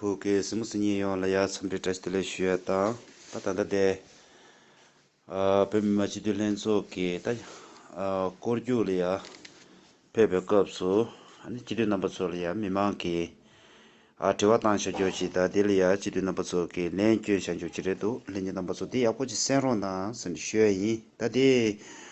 བོད་ཀྱི་སྲིད་མི་སུ་ཉིད་ཡོངས་ལ་ཡ་མཚམས་འདྲི་བཀྲ་ཤིས་བདེ་ལེགས་ཞུ་ཡ་དང་ད་ད་ལྟ་དེ་བོད་མི་མང་སྤྱི་འཐུས་ལྷན་ཚོགས་ཀྱི་ད་སྐོར་རྒྱུགས་ལ་ཡ་ཕེབས་པའི་སྐབས་སུ་སྤྱི་འཐུས་རྣམ་པ་ཚོ་ལ་ཡ་མི་མང་གི་ཨ་དྲི་བ་བཏང་ཤག་རྒྱོགས་ཤིག་ད་དེ་ལ་ཡ་སྤྱི་འཐུས་རྣམ་པ་ཚོ་གི་ལན་བསྐྱོན་ཤག་རྒྱོགས་ཀྱི་རེད་འདུག་ལྷན་རྒྱས་རྣམ་པ་ཚོ་དེ་ཡག་པོ་ཅིག་སེམས་རོགས་གནང་སེམས་འདྲི་ཞུ་ཡ་ཡིན་ད་དེ།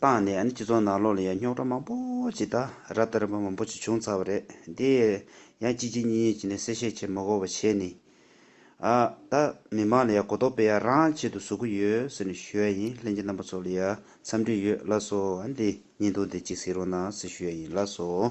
བཏང་ནས་སྤྱི་ཚོགས་ནང་ལོག་ལ་ཡང་རྙོག་དྲ་མང་པོ་ཅིག་དང་ར་ལྟ་རན་པོ་མང་པོ་ཅིག་བྱུང་ཚར་བ་རེད། དེ་ཡང་གཅིག་གཅིག་གཉིས་གཉིས་ཀྱིས་ནས་གསལ་བཤད་བྱེད་མ་གོ་བ་བྱས་ནས། ཨ། ད། མི་མང་ལ་ཡང་གོ་རྟོགས་སྤེལ་ཡ་རང་ཆེད་དུ་བཟོ་གི་ཡོད་ཟེར་ནས་ཞུ་ཡ་ཡིན་ལྷན་གྱི་རྣམ་པ་ཚོ་ལ་ཡང་འཚམས་འདྲི་ཡོད་ལ་སོ་འདི་ཉིན་ཐོ་འདི་གཅིག་གཟིགས་རོགས་གནང་ཟེར་ཞུ་ཡ་ཡིན་ལ་སོ།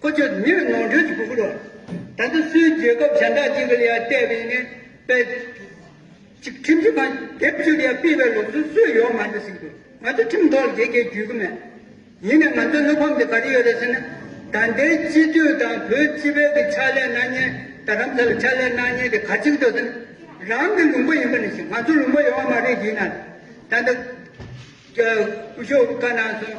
ཁོ་ཚོས་མིར་ནོར་འཁྲུལ་གྱི་གུ་གུ་རུ། ད་དུང་སུའི་རྒྱལ་ཁབ་གཞན་དག་ཅིག་གི་ལ་ཡར་བལྟས་པའི་ངན་པའི་ཚིག། ཁྲིམས་ཀྱི་ཁང་དེབ་བཅུ་ལ་ཡར་སྤེལ་བའི་ལུགས་སྲོལ་སུས་ཡོང་མ་རེད་ཟེར་གྱི་ང་ཚོ་ཁྲིམས་ཐོག་ལ་དེ་གས་འཇུས་གི་མེད། ཡིན་ནའི་ང་ཚོའི་བློ་ཕམ་དེ་ག་རེ་ཡོད་རེད་ཟེར་ན། ད་ལྟའི་སྤྱི་འཐུས་དང་བོད་སྤྱི་བལ་གྱི་ཕྱག་ལས་གནང་ཉེན་ད་རམ་ས་ལ་ཕྱག་ལས་གནང་ཉེན་དེ་ག་ཅིག་འདུག་ཟེར་ན། རང་གི་ལུང་པ་ཡིན་པ་ནས་བཞིན་ང་ཚོ་ལུང་པ་ཡོང་བ་མ་རེད་ཡིན་ནའི། ད་ལྟ། སྐུ་ཞོགས་བཀའ་གནང་སོང།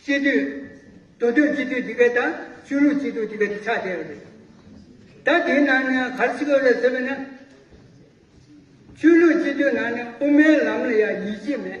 སྤྱི་འཐུས། དོན་དུ་སྤྱི་འཐུས Debate དང་ཆོས་ལུགས་སྤྱི་འཐུས Debate ཆགས་བསྡད་ཡོད་རེད། ད་དེའི་ནང་ནས་གར་སྤྱི་འཐུས་ལ་ཟེར་བས་ན། ཆོས་ལུགས་སྤྱི་འཐུས་ནང་ནས་དབུ་མའི་ལམ་ལ་ཡང་ཡིད་ཆེས་མེད།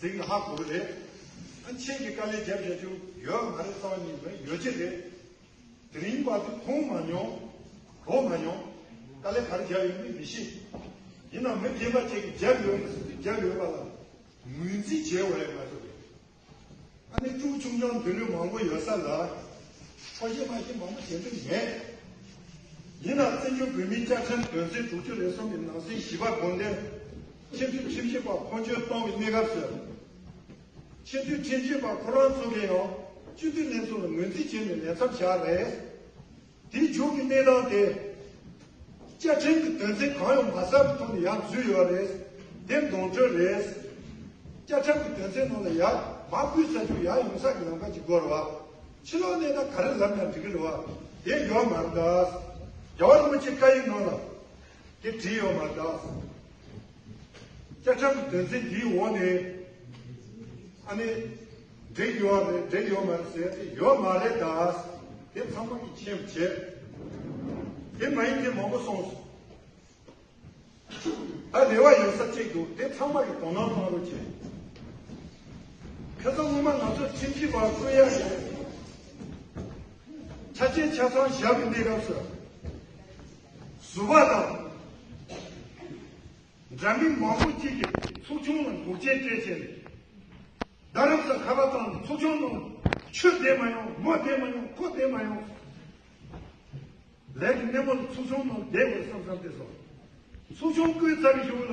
ཟིག་ལྷ་དགུ་རེད། ཨ་ཆེན་གྱི་དཀའ་ལས་རྒྱབ་བཞག་རྒྱུ་ཡོད་མ་རེད་ལྟོ་གཉིས་ནི་ཡོ་བྱད་རེད། དེ་རིང་བར་དུ་མཐོང་མ་མྱོང། གོ་མ་མྱོང། དཀའ་ལས་ག་རེ་རྒྱབ་ཡོད་མེད་མི་ཤེས། ཡིན་ནའང་མི་རྒན་པ་ཅིག་གིས་རྒྱབ་ཡོད་མེད་ཟེར་དུས་རྒྱབ་ཡོད་པ་ལ་ངོས་འཛིན་བྱས་འོས་མ་རེད། ཨ་ནེ་སྤྲུག་ཆུང་ཆུང་འདི་ལོས་མང་པོ་ཡོད་ས་ལ། འཕྲོ་གཞས་མ་གཞས་མང་པོ་བྱེད་འདོད་མེད། ཡིན་ནའང་བཙན་བྱོལ་བོད་མིའི་སྐྱག་ཕྲན་དོན་ཚན་དྲུག་ཅུ་རེ་གསུམ་གྱི་ནང་གསེས་བཞི་པ་དགོངས་དོན། ཁྱིམ་དུད་ཁྲིམས་ཞིབ་པ་ཁོང་ཆུད་གཏོང་གི་གནས་སྐབས་སུ། ཁྱིམ་དུད་ཁྲིམས་ཞིབ་པ་ཁོ་རང་ཚོ་གིས་ཡང་སྤྱི་འཐུས་གནས་ཚུལ་ལ་ངོས་འཛིན་བྱས་ནས་ལས་ཚབ་བྱ་རེས། དེའི་མཇུག་གི་གནས་སྟངས་དེ། བཅའ་ཁྲིམས་ཀྱི་དོན་ཚན་གང་ཡང་མ་གསལ་བའི་ཐོག་ནས་ཡང་བརྫུས་ཡོད་རེས། དེ་འདོན་སྤྲོད་རེས། བཅའ་ཁྲིམས་ཀྱི་དོན་ཚན་ནང་ལ་ཡང་མ་བུད་ས་ཆུ་ཡང་ཡོང་ས་ཀྱི་ལམ་ཁ་ཅིག་དགོས་རེད་བ། ཕྱི་ལོག་གནས་སྟངས་ག་རེ་ལབ་ཀྱང་འགྲིག་གི་རེད་བ། དེ་ཡོད་མ་རེད་དཱ། རྒྱལ་བ་རིན་པོ་ཆེ་བཀའ་ཡིག་ནང་ལ། ཀྱི་བྲིས་ཡོད་པ་དང། བཅའ་ཁྲིམས་བདུན་ཚན་འདིའི་འོག་ནས་ཨ་ནི་འགྲིག་ཡོད་རེད་འགྲིག་ཡོད་མ་རེད་ཟེར་ཏེ་ཡོད་མ་རེད་ད་དེ་ཚང་མ་གི་ཁྱེད་བྱེད་དེ་མ་ཡིན་དེ་མང་པོ་སོང་སོང་ད་རེ་བ་ཡོད་ས་གཅིག་འདུག་དེ་ཚང་མ་གི་དོ་སྣང་གནང་རོགས་བྱེད་ཁྱེད་ཚོ་སྔོན་མ་ང་ཚོ་ཁྲིམས་ཞིབ་པ་གསོད་ཡ་རེད་ཆ་ཆེ་ཆ་ཚང་ཞབས་འདེགས་སྐབས་སུ། བཟོ་བ་དང། འདྲ་མིན་མང་པོ་གཅིག་གིས་ཚོགས་ཆུང་ལ་འགོག་རྐྱེན་སྤྲད་ཆེད་རེད། རྡ་རམ་ས་ཁ་བ་ཚང་ནས་ཚོགས་ཆུང་ནང་ཆོས་བསྡད་མ་ཡོང་མོ་བསྡད་མ་ཡོང་ཁོ་བསྡད་མ་ཡོང། ལས་ཀྱི་སྣེ་མོ་ལ་ཚོགས་ཆུང་ནང་བསྡད་དགོས་བསམ་བསམ་བསྡད་སོང། ཚོགས་ཆུང་བསྐོས་ཚར་བཞུགས་ལ།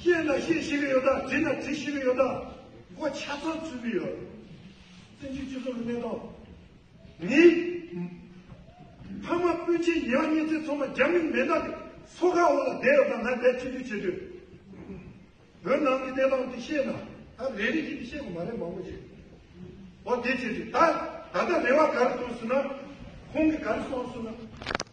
ཤེས་ན་ཤེས་ཤེས་ཀྱི་ཡོད་དང་དྲིས་ན་དྲིས་ཤེས་ཀྱི་ཡོད་དང་མགོ་ཆ་ཚང་འཚོས་ཀྱི་ཡོད། བཙན་བྱོལ་སྤྱི་ཚོགས་ཀྱི་གནས་སྟངས་ནི། ཕ་མ་སྤུན་མཆེད་ཉེ་བ་གཉེན་ཚན་ཚང་མ་རྒྱ་མིའི་མེ་སྟག་གི་སོ་ཁ་འོག་ལ་བསྡད་ཡོད་པ་ང་དེར་ཐུགས་རྗེ་ཆེ་ཞུ། བོད་ནང་གི་གནས་སྟངས་དེ་ཤེས་ན་ད་རེ་རེ་བཞིན་དུ་ཤེས་དགོས་མ་རེད་མང་པོ་ཞིག། འོ་དེ་བྱས་དུས་ད་ད་ལྟ་རེ་བ་ག་རེ་བཏོན་ཟེར་ན་ཁོང་གིས་ག་རེ་གསུངས་ཟེར་ན།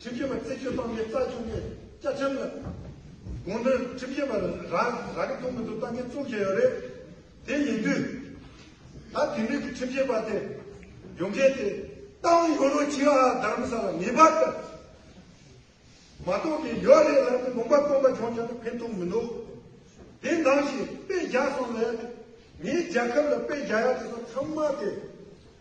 ཁྲིམས་ཞིབ་པ་རྩད་གཅོད་གཏོང་མཁན་རྩ་ཆུང་གི་བཅའ་ཁྲིམས་ལ་དགོངས་དོན་ཁྲིམས་ཞིབ་པ་རང་རང་གི་ཐུགས་མི་འདུག་གཏང་མཁན་བཙུགས་བཞིན་ཡོད་རེད། དེ་ཡིན་དུས་ད་དེ་ནུས་ཀྱི་ཁྲིམས་ཞིབ་པ་དེ་ཡོང་མཁན་དེ་ཏང་ཡོན་རུ་ཆི་ཨ་དྷརམ་ས་ལ་ངེས་པར་དུ་མ་གཏོགས་ཀྱི་ཡོད་རེད་ལབ་ཏེ་ལུང་པ་སྟོང་པ་འབྱུང་བཞིན་ན་ཕན་ཐོགས་མི་འདུག་དེ་འདང་ཞིག་དཔེ་བཞག་སོང་ལས་ངའི་རྒྱལ་ཁབ་ལ་དཔེ་བཞག་ཡག་དེ་ཚོ་ཚང་མ་དེ་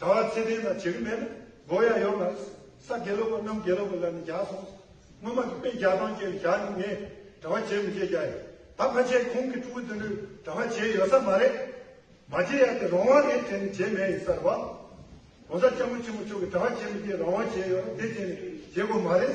གྲྭ་བ་ཚེ་བརྟན་དང་བྱེད་གི་མེད་ལ་མགོ་ཡ་ཡོད་མ་རེད། ས་དགེ་ལོག་པ་རྣམས་དགེ་ལོག་པའི་ལག་ནས་རྒྱག་སོང། སྔོན་མ་གི་དཔེ་རྒྱག་སྟངས་བཅས་ལ་བཞག་ནས་ངས་གྲྭ་བ་བྱེད་མི་བྱེད་རྒྱག་ཡོད། ད་ཕ་ཆེ་ཁོང་གི་ཕྲུ་གུ་དེ་འདྲུས་གྲྭ་བ་བྱེད་ཡོད་ས་མ་རེད། མ་བྱེད་ཡག་དེ་རང་དབང་རེད་དྲན་ནས་བྱེད་མེད་ཡིན་ས་རེད་བ། གོང་ས་སྐྱབས་མགོན་ཆེན་པོ་མཆོག་གིས་གྲྭ་བ་བྱེད་མི་བྱེད་རང་དབང་བྱེད་ཡོད་རེད་དེ་བྱས་ནས་བྱེད་དགོས་མ་རེད།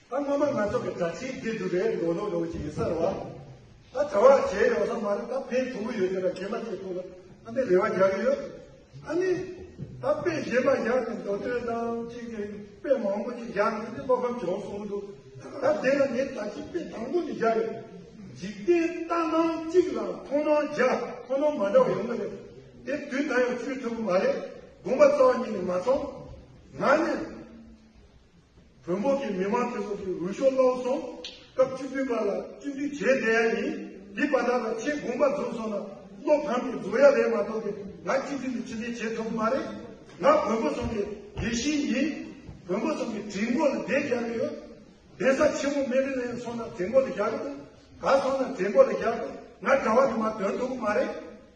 ད་སྔོན་མ་ང་ཚོ་གི་དྲ་ཕྱིའི་སྡེ་སྒྲུབ་པའི་ལོ་ལོ་ལོ་ཅིག་ཡིན་ས་རེད་བ། ད་དྲ་བ་བྱས་ཡོང་ས་མ་རེད་ད་ཕན་ཐུག་གི་ཡོད་རེད་བ་གད་མ་ཐེག་ཐུག་ལ་ཨ་ནི་རེ་བ་རྒྱག་གི་ཡོད། ཨ་ནི། ད་དཔེ་གཞན་མ་བཞག་ནས་མདོ་སྟོད་ནང་གཅིག་གི་དཔེ་མང་པོ་ཅིག་བཞག་ནས་འདི་བློ་ཕམ་བྱུང་སོང་གི་འདུག་ད་དེ་ལ་ངས་ད་ཅིག་དཔེ་དང་པོ་ནས་བཞག་ཡོད། འཇིག་རྟེན་རྟ་ནང་གཅིག་ལ་མཐོང་སྣང་རྒྱ་མཐོང་སྣང་མ་འདྲ་བ་ཡོང་གི་རེད། དེ་དུས་ད་ཡང་ཆུད་ཐུབ་གི་མ་རེད་དགོངས་པ་རྩ་བ་ཉིད་ནས་མ་ཚང། ང་ནི། བོད་འབོར་གྱི་མི་དམངས་ཚེ་སྲོག་གི་འོས་ཤོག་བློ་བཟང་སྐབས་བཅུ་བདུན་པ་ལ་བཅུ་བདུན་བྱས་བསྡད་ཡ་ཡིན། འདི་པ་དག་ལ་ཆེས་དགོངས་པ་རྫོགས་སོང་ན་བློ་ཕམ་གྱི་རྫོགས་ཡ་རེད་མ་གཏོགས་ཏེ་ང་སྤྱི་མཐུན་དུ་ཕྱི་འཐེན་བྱེད་ཐུབ་མ་རེད། ང་བོན་པོ་ཚང་གི་དགེ་བཤེས་ཡིན། བོན་པོ་ཚང་གི་གྲིས་མགོ་ལ་བསྡད་རྒྱག་གི་ཡོད། གདན་ས་ཆེན་མོ་སྨན་རི་ལ་ཡང་སོང་ན་གྲིས་མགོ་ལ་བཞག་གི་འདུག་ག་སོང་ན་གྲིས་མགོ་ལ་བཞག་གི་ང་གྲྭ་བ་དེ་མ་དོན་ཐུབ་མ་རེད།